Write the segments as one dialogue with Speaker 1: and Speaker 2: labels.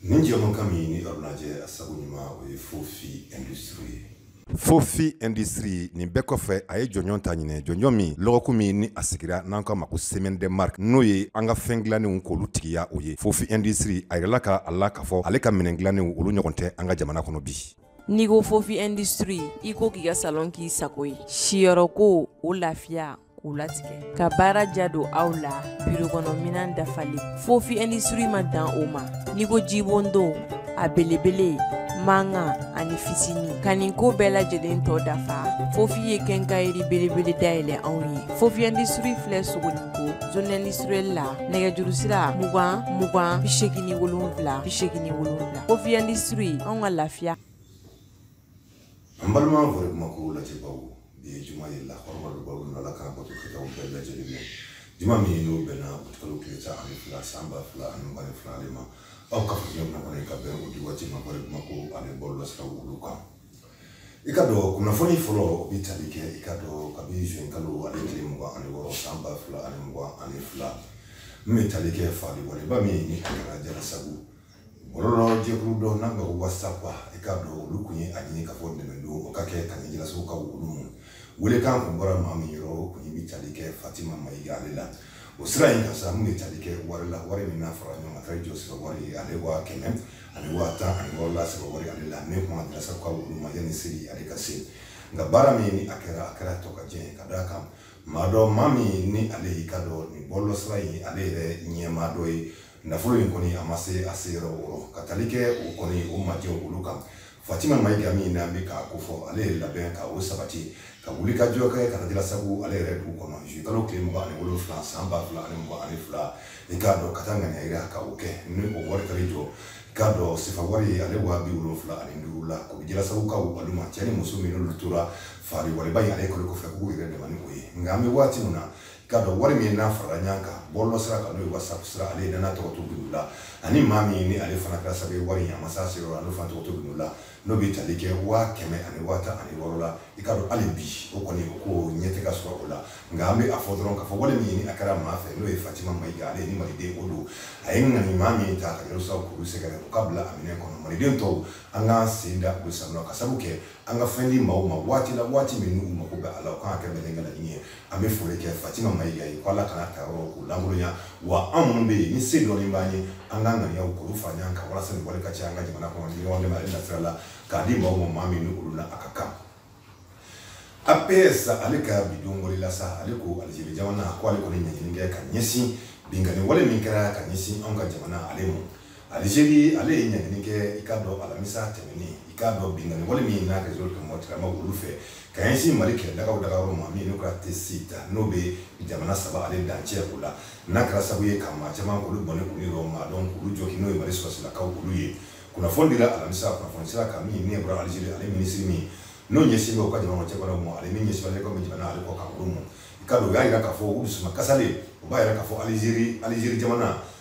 Speaker 1: nin jɛmukan min ni aw b'a lajɛ a sabu ɲuman o ye fofi industrie ye fofi industrie nin bɛɛ kɔfɛ a ye jɔnjɔn ta ɲinan jɔnjɔn min lɔgɔkun min ni a sigira n'an k'a ma ko semaine de marque n'o ye an ka fɛn dilannenw k'olu tigiya o ye fofi industrie a yirala ka a la k'a fɔ ale ka minɛn dilannenw olu ɲɔgɔn tɛ an ka jamana kɔnɔ bi n'i ko fofi industrie i ko k'i ka salon k'i sago ye siyɔrɔko o lafiya k'u latigɛ ka baara ja don aw la biro kɔnɔ minan dafalen fofi industrie ma dan o ma n'i ko jibondon a belebele mankan ani fitini ka nin ko bɛɛ lajɛlen tɔ dafa fofi ye quincaillerie belebele dayɛlɛ anw ye fofi industrie filɛ sogoninko zone industrielle la nɛgɛjuru sira mugan mugan bi segin ni wolonwula bi segin ni wolonwula fofi industrie anw ka lafiya an balima fɔre kuma ko lajɛbaw bi ye juma ye lakɔrɔbadobaw ala k'an bato kɛtaw bɛɛ lajɛlen minɛ juma min ye n'o bɛnna kalo tile tan ani fila san ba fila ani mugan ni fila de ma aw ka fo jɛmu in kɔnɔ ka bɛn o di waati ma fɔre kuma ko ani bɔlɔlɔsiraw olu kan i k'a dɔn kunnafoni fɔlɔ o bɛ tali kɛ i k'a dɔn kabini zuin kalo ani tile mugan ani wɔɔrɔ san ba fila ani mugan ani fila min bɛ tali kɛ faali wale ba min ni a kɛra jalasagu jɛkulu dɔw n'an ka whatsapp i k'a dɔn olu tun ye a ɲini ka fɔ dɛmɛ don o ka kɛ ka ɲɛsin jalasagukaw olu ma welekan tun bɔra maa min yɔrɔ o tun bɛ tali kɛ fatima mayiga ale la o sira in kan sa min bɛ tali kɛ wari la wari min n'a farala ɲɔgɔn kan kari jɔ sefa wari ye ale waa kɛmɛ ani waa tan ani wɔɔrɔ la sefa wari ale la ne kun ma jalasagukaw olu ma yanni seli ale ka se nka baara min ni a kɛra a kɛra tokajɛ ye ka d'a kan maa dɔ maa min ni ale y'i k'a dɔn nin bɔlɔlɔsira in ale yɛrɛ ɲɛmaa dɔ ye nafolo in kɔni a ma se a se yɔrɔ wɔrɔ ka tali kɛ o kɔni o majɛw olu kan fatima mayiga min n'an bɛ k'a ko fɔ ale ye labɛn ka o sabati ka wulikajɔ kɛ ka jalasagu ale yɛrɛ dugu kɔnɔ zuin kalo tile mugan ani wolonfila san ba fila ani mugan ani fila i k'a dɔn ka taa ŋaniya yira ka o kɛ ni o wari kari jɔ k'a dɔn sefa wari ye ale waa bi wolonfila ani duuru la k'o di jalasagukaw olu ma cɛ ni muso min n'olu tora faali waleba in ale kɔni kɔfɛ k'u yɛrɛ dɛmɛ ni o ye nka an bɛ waati min na k'a dɔn wari min n'a farala ɲɔgɔn kan bɔlɔlɔ sira kan n'o ye whatsapp sira ale ye n'a tɔgɔ to bino la ani maa min ni ale fana kɛra sababu ye wari in a ma s'a se yɔrɔ la n'o fana tɔgɔ to bino la n'o bɛ tali kɛ waa kɛmɛ ani waa tan ani wɔɔrɔ la i k'a dɔn hali bi o kɔni o ko ɲɛ tɛ ka sɔrɔ o la nka an bɛ a fɔ dɔrɔn k'a fɔ wale min a kɛra maa fɛ n'o ye fatima mayiga ale ni maliden o don a ye ŋaniya ɲuman min ta ka jalasagukaw olu sɛgɛrɛ o ka bila a minɛ kɔnɔ maliden tɔw an k'an sen da u sennɔ ma ka sabu kɛ an ka fɛn di maaw ma waati la waati min n'u mako bɛ a la o kan ka kɛ maliɛn ka laɲini ye an bɛ foli kɛ fatima mayiga ye ko ala kana ta yɔrɔ k'o lankolonya wa an minnu bɛ yen ni se dɔɔni b'an ye an ka ŋaniyaw k'olu fara ɲɔgɔn kan walasa nin wale ka caya an ka jamana kɔnɔ ni ɲɔgɔn dɛmɛ ale nasira la k'a di maaw ma maa min ni olu la a ka kan aps ale ka bi don wale la sa ale ko alizeri jamana ko ale kɔni ɲangini kɛ ka ɲɛsin binkanni wale min kɛra ka ɲɛsin anw ka jamana ale ma Alizeri ale ye ɲangini kɛ i k'a dɔn alamisa tɛmɛnen i k'a dɔn binkanni wale min n'a kɛ zoro kɛmɛ tigɛ ma olu fɛ ka ɲɛsin mali kɛlɛdagaw dagayɔrɔ ma min n'u ka Tessit ta n'o bɛ jamana saba ale dancɛ o la n'a kɛra sabu ye ka maa caman olu bɔnɛ olu yɔrɔ maa dɔw olu jogin n'o ye mali sɔrɔdasilakaw olu ye kunnafoni dira alamisa kunnafoni sira kan min n'a bɔra alizeri ale minisiri min n'o ɲɛsinnen bɛ u ka jamana cɛkɔrɔbaw ma ale min ɲɛsin ale ka jamana ale kɔkan olu ma i k'a dɔn u y'a jira k'a fɔ u dusuma kasilen u b'a jira k'a fɔ alizeri alizeri jamana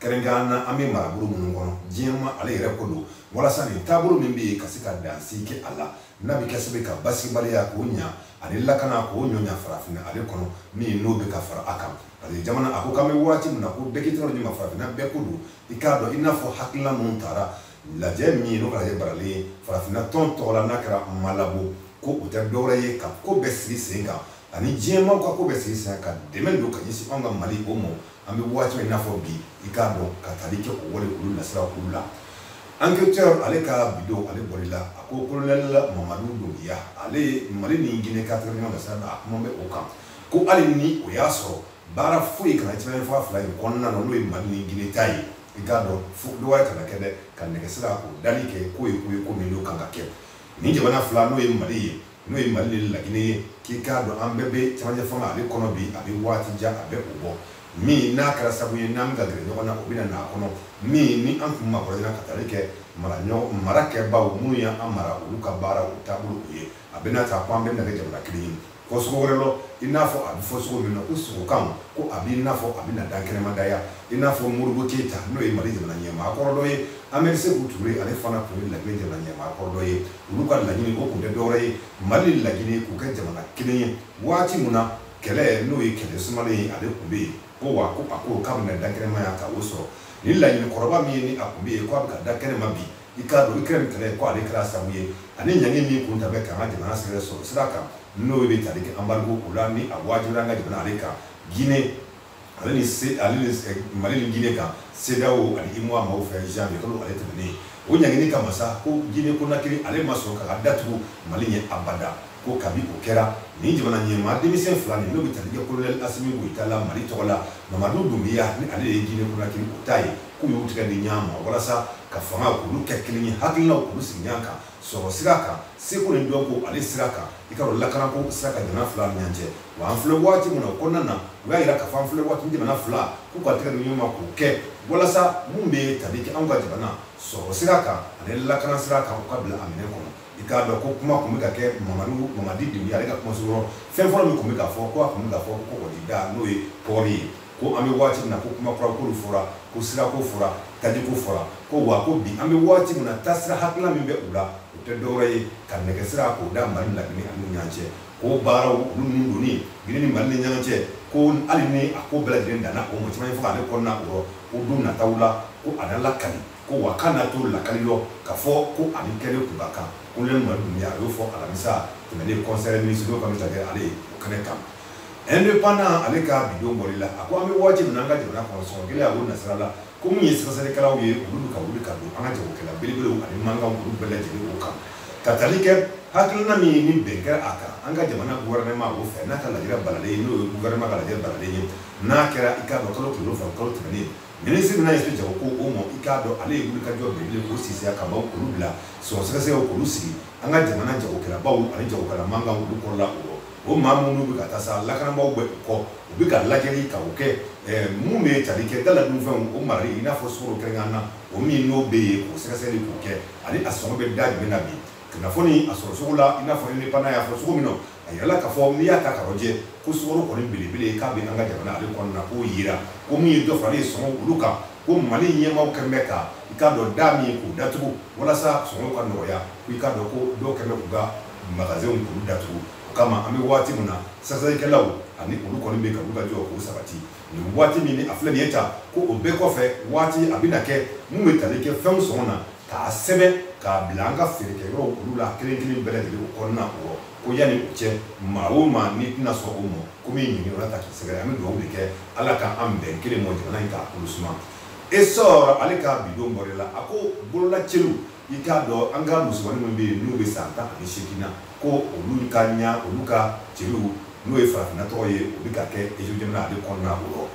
Speaker 1: kɛrɛnkɛrɛn na an bɛ marabolo minnu kɔnɔ diɲɛ ma ale yɛrɛ ko don walasa nin taabolo min bɛ yen ka se ka dansigi kɛ a la n'a bɛ kɛ sabu ye ka basigibaliya k'o ɲa ani lakana k'o ɲɔɲa farafinna ale kɔnɔ min n'o bɛ ka fara a kan parce que jamana a ko k'an bɛ waati min na ko bɛɛ k'i tɛgɛ di ɲɔgɔn ma farafinna bɛɛ ko don i k'a dɔn i n'a fɔ hakilina minnu tara lajɛ min ye n'o kɛra balalen ye farafinna tɔn tɔgɔ la n'a kɛra malabo ko o tɛ dɔwɛrɛ ye ka ko bɛɛ sigi sen kan ani diɲɛmaaw ka ko bɛɛ sigi sen kan ka dɛmɛ don ka ɲɛsin anw ka mali o ma an bɛ waati min n'a fɔ bi i k'a dɔn ka tali kɛ o wale olu nasira olu la enquêteur ale ka bi don ale bɔli la a ko colonel mamadu dunbiya ale ye mali ni guinée ka tɛrɛn sira da a kuma bɛ o kan ko hali ni o y'a sɔrɔ baara foyi kana tiɲɛ fanga fila in kɔnɔna na n'o ye mali ni guinée ta ye i k'a dɔn fo dɔgɔya kana kɛ dɛ ka nɛgɛsira o dali kɛ k'o ye ko ye ko min n'o kan ka kɛ nin jamana fila n'o ye mali ye n'o ye mali ni laginɛ ye k'i k'a dɔn an bɛɛ bɛ camancɛ fanga ale kɔnɔ bi a bɛ waati jan a bɛ o bɔ min n'a kɛra sabu ye n'an bɛ ka gɛrɛ ɲɔgɔn na o bɛna n'a kɔnɔ min ni an tun makɔrɔyana ka taali kɛ mara kɛbaaw minnu y'an mara olu ka baara o taabolo u ye a bɛna ta ko an bɛna kɛ jamana kelen ye fo cogo wɛrɛ la i n'a fɔ a bɛ fɔ cogo min na ko sugo kan ko a b'i n'a fɔ a bɛ na dankɛnɛmaya i n'a fɔ modibo keyita n'o ye mali jamana ɲɛmaa kɔrɔ dɔ ye ani seku ture ale fana tun ye laginɛ jamana ɲɛmaa kɔrɔ dɔ ye olu ka laɲini o tun tɛ dɔwɛrɛ ye mali ni laginɛ k'u kɛ jamana kelen ye waati min na kɛlɛ n'o ye kɛlɛ sumalen ye ale tun bɛ yen ko wa ko a ko k'a bɛna dakɛnɛmaya ta o sɔrɔ ni laɲini kɔrɔba min ye ni a tun bɛ yen ko a bɛ ka da kɛnɛma bi i k'a dɔn ikɛrɛni kɛlɛ ko ale kɛra sabu ye ani ɲangi min tun talen bɛ k'an ka jamana sɛgɛrɛ sɔrɔ sira kan n'o bɛ tali kɛ anbarigo o la ni a waajibiyara an ka jamana ale kan gine ale ni se ale ni eh, mali ni guinée kan CEDEAO ani UEMOA maaw fɛ janvier kalo ale tɛmɛnen ye o ɲangini kama sa ko guinée konakiri ale ma sɔn k'a ka da tugu mali ɲɛ abada ko kabi o kɛra nin jamana ɲɛmaa denmisɛn fila nin n'o bɛ tali kɛ kolonɛli asimi goyita la mali tɔgɔ la mamadu dunbiya ni ale de ye guinée konakiri o ta ye k'u y'u tigɛ di ɲɔgɔn ma walasa ka fanga k'olu kɛ kelen ye hakilinaw k'olu sigi ɲɔgɔn kan sɔrɔ sira kan seko ni dɔnko ale sira kan i k'a dɔn lakanako sira kan jamana fila ni ɲɔgɔn cɛ wa an filɛ waati min na o kɔnɔna na u y'a yira k'a fɔ an filɛ waati jamana fila k'u ka tɛgɛ di ɲɔgɔn ma k'o kɛ walasa min bɛ tali kɛ anw ka jamana sɔrɔ sira kan ani lakana sira kan u ka bila a minɛ kɔnɔ i k'a dɔn ko kuma tun bɛ ka kɛ mamadu mamadi de ye ale ka kumaso yɔrɔ fɛn fɔlɔ min tun bɛ k'a fɔ ko a tun bɛ k'a fɔ ko kɔgɔjida n'o ye pɔri ye ko an bɛ waati min na ko kuma kuranko olu fɔra ko sirako fɔra tajiko fɔra ko wa ko bi an bɛ waati min na taasira hakilina min bɛ u la o tɛ dɔwɛrɛ ye ka nɛgɛsira k'o da mali la gini ani ɲɔgɔn cɛ k'o baaraw olu ninnu donni gini ni mali ni ɲɔgɔn cɛ ko hali ni a ko bɛɛ lajɛlen danna o mɔgɔ caman ye fo k'ale kɔnɔna o rɔ ko don nataw la ko a na lakali ko wa k'a na to lakali lɔ ka fɔ ko a bɛ kɛlen kun ka kan ko lɛn mali dunya a y'o fɔ alamisa tɛmɛnen kɔnsɛrɛ minisiriw ka bɛ ta kɛ ale ye o kɛnɛ kan indépendant ale ka bi don bɔli la a ko an bɛ waati min na an ka jamana kɔnɔ sɔngɔ gɛlɛya ko nasira la ko min ye sɛgɛsɛgɛlikɛlaw ye olu bɛ ka wuli ka don an ka jagokɛla belebelew ani mankanw olu bɛɛ lajɛlen o kan ka tali kɛ hakilina min ni bɛn kɛra a kan an ka jamana gouvernement o fɛ n'a ka lajɛrɛ balalen ye n'o ye gouvernement ka lajɛrɛ balalen ye n'a kɛra i k'a dɔn kalo tile wolonwula kalo tɛmɛnen minisiri bɛna ɲɛsin jagoko o ma i k'a dɔn ale ye wulikajɔ belebele k'o sisiya ka baw k'olu bila sɔngɔ sɛgɛsɛgɛw k'olu sigi an ka jamana jagokɛlabaw ani jagokɛla mankanw olu kɔrɔla o o maa minnu bɛ ka taa sa lakanabaaw b'u kɔ u bɛ ka lajɛli ta o kɛ minnu bɛ tali kɛ daladunfɛnw o marali i n'a fɔ sukoro kɛrɛnkɛrɛnnen na o min n'o bɛ yen k'o sɛgɛsɛgɛli k'o kɛ ani a sɔngɔ bɛ da jumɛn na bi kunnafoni a sɔrɔ sugu la i n'a fɔ ni bana y'a fɔ cogo min na a yirala k'a fɔ n'i y'a ta k'a lajɛ ko sukoro kɔni belebele k'a bɛ an ka jamana ale kɔnɔna k'o yira ko min ye dɔ fara ye sɔngɔ olu kan ko mali ɲɛmaaw kɛlen bɛ ka i k'a dɔn da min k'u datugu walasa sɔngɔ ka nɔgɔya ko i k'a dɔn ko dɔw kɛlen bɛ k'u ka magasinw k'olu datugu o kama an bɛ waati min na sɛgɛsɛgɛlikɛlaw ani olu kɔni bɛ ka olu ka jɔ k'o sabati nin waati min ni an filɛ nin ye ta ko o bɛɛ kɔfɛ waati a bɛna kɛ min bɛ tali kɛ fɛnw sɔngɔ na k'a sɛbɛn k'a bila an ka feerekɛ yɔrɔw olu la kelen kelen bɛɛ lajɛlen o kɔnɔna o ko yanni o cɛ maa o maa n'i tɛna sɔn o ma ko min ɲiniyɔrɔ la taa k'i sɛgɛrɛ an bɛ dugawu de kɛ ala k'an bɛn kelen ma jamana in k'a kolo suma essor ale ka bi don bɔli la a ko bololacelu i k'a dɔn an ka musomannin minnu bɛ yen n'u bɛ san tan ani seegin na ko olu ka ɲa olu ka celu n'o ye farafinna tɔgɔ ye o bɛ ka kɛ ejo jamana ale kɔnɔna o yɔrɔ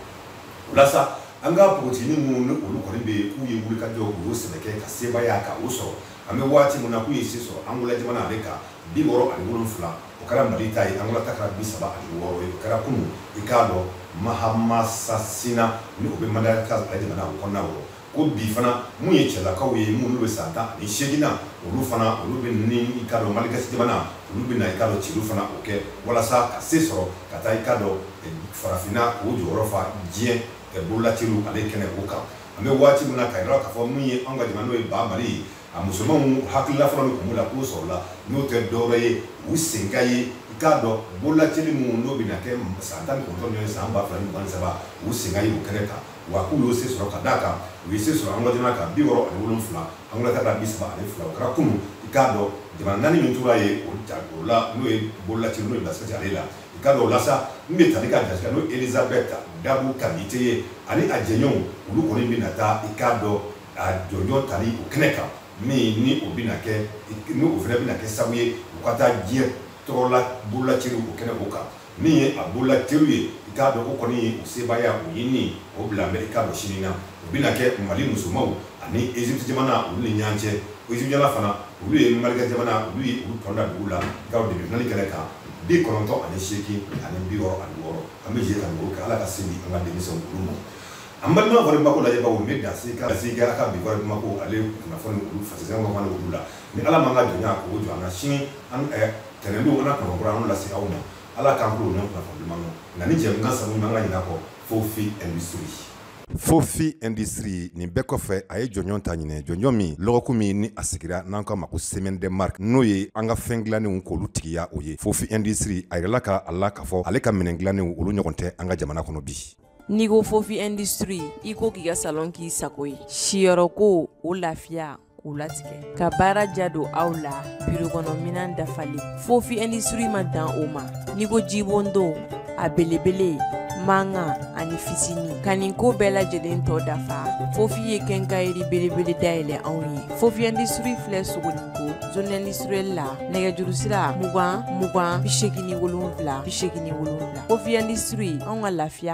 Speaker 1: o la sa an ka npogotiginin minnu ni olu kɔni bɛ yen k'u ye wulikajɔ u y'o sɛbɛ kɛ ka sebaaya ka o sɔrɔ an bɛ waati min na k'u ye se sɔrɔ angola jamana ale kan bi wɔɔrɔ ani wolonfila o kɛra mali ta ye angola ta kɛra bi saba ani wɔɔrɔ ye o kɛra kunun i k'a dɔn mahamasasina ni o bɛ madagascar jamana o kɔnɔna wɔɔrɔ ko bi fana min ye cɛlakaw ye minnu bɛ san tan ani seegin na olu fana olu bɛ ni i k'a dɔn maligasi jamana olu bɛna i k'a dɔn celu fana o kɛ walasa ka se sɔrɔ ka taa i k'a dɔn eh, farafinna k'o jɔyɔrɔ fa diɲɛ eh, bololacelu ale kɛnɛ o kan an bɛ waati min na k'a yira k'a fɔ min ye anw ka jamana n'o ye ba mali ye a musomanw hakilila fɔlɔ min tun b'u la k'o sɔrɔla n'o tɛ dɔwɛrɛ ye u sen ka ye i k'a dɔn bololacelu minnu n'o bɛna kɛ san tan ni kɔnɔntɔn min ye san ba fila ni mugan ni saba u sen ka ye o kɛnɛ kan wa k'u y'o se sɔrɔ ka d'a kan u ye se sɔrɔ angola jamana kan bi wɔɔrɔ ani wolonfila angola ka da bi saba ani fila o kɛra kunu i k'a dɔn jamana naani min tora ye o ja o la n'o ye bololacelu n'o ye bilasirati ale la i k'a dɔn o la sa n bɛ tali ka jasira n'o elizabɛt dabu kamite ye ani a jɛɲɔgɔnw olu kɔni bɛna taa i k'a dɔn a jɔnjɔn tali o kɛnɛ kan min ni o bɛna kɛ ni o fana bɛna kɛ sabu ye u ka taa diɲɛ tɔgɔla bololacelu o kɛnɛ o kan min ye a bololacelu ye i k'a dɔn o kɔni ye u sebaaya o ɲinini o bila amerika ma sini na o bɛna kɛ mali musomaw ani egypte jamana olu ni ɲɔgɔn cɛ egypte jamana fana olu ye maligasi jamana olu ye olu tɔn da dugu la gaw de bɛ nali kɛnɛ kan bi kɔnɔntɔn ani seegin ani bi wɔɔrɔ ani wɔɔrɔ an bɛ jɛ ka dugawu kɛ ala ka se di an ka denmisɛnw olu ma an balima kɔni bako lajɛbaw n bɛ dan se ka se kɛ a ka bi kɔni mako ale kunnafoni olu fasɛn kɔni olu la ni ala ma an ka jɔnya k'o jɔ an na sini an tɛnɛndon ka na kɔnɔkura an lase aw ma ala k'an tulo ɲɔgɔn kunnafoni duman dɔn nka nin jɛmukan sabu man ka ɲinɛ kɔ fofi industrie fofi industrie nin bɛɛ kɔfɛ a ye jɔnjɔn ta ɲinan jɔnjɔn min lɔgɔku min ni a sigira n'an k'a ma ko semaine de marque n'o ye an ka fɛn dilannenw k'olu tigiya o ye fofi industrie a yirala ka a la k'a fɔ ale ka minɛn dilannenw olu ɲɔgɔn tɛ an ka jamana kɔnɔ bi n'i ko fofi industrie i ko k'i ka salon k'i sago ye siyɔrɔko o lafiya k'u latigɛ ka baara diya don aw la birokɔnɔminan dafalen fofi indisiri ma dan o ma n'i ko jibondon a belebele mankan ani fitini ka nin ko bɛɛ lajɛlen tɔ dafa fofi ye kɛnkayiri belebele dayɛlɛ anw ye fofi indisiri filɛ sogoninko zone industrielle la nɛgɛjuru sira mugan mugan bi segin ni wolonwula bi segin ni wolonwula fofi indisiri anw ka lafiya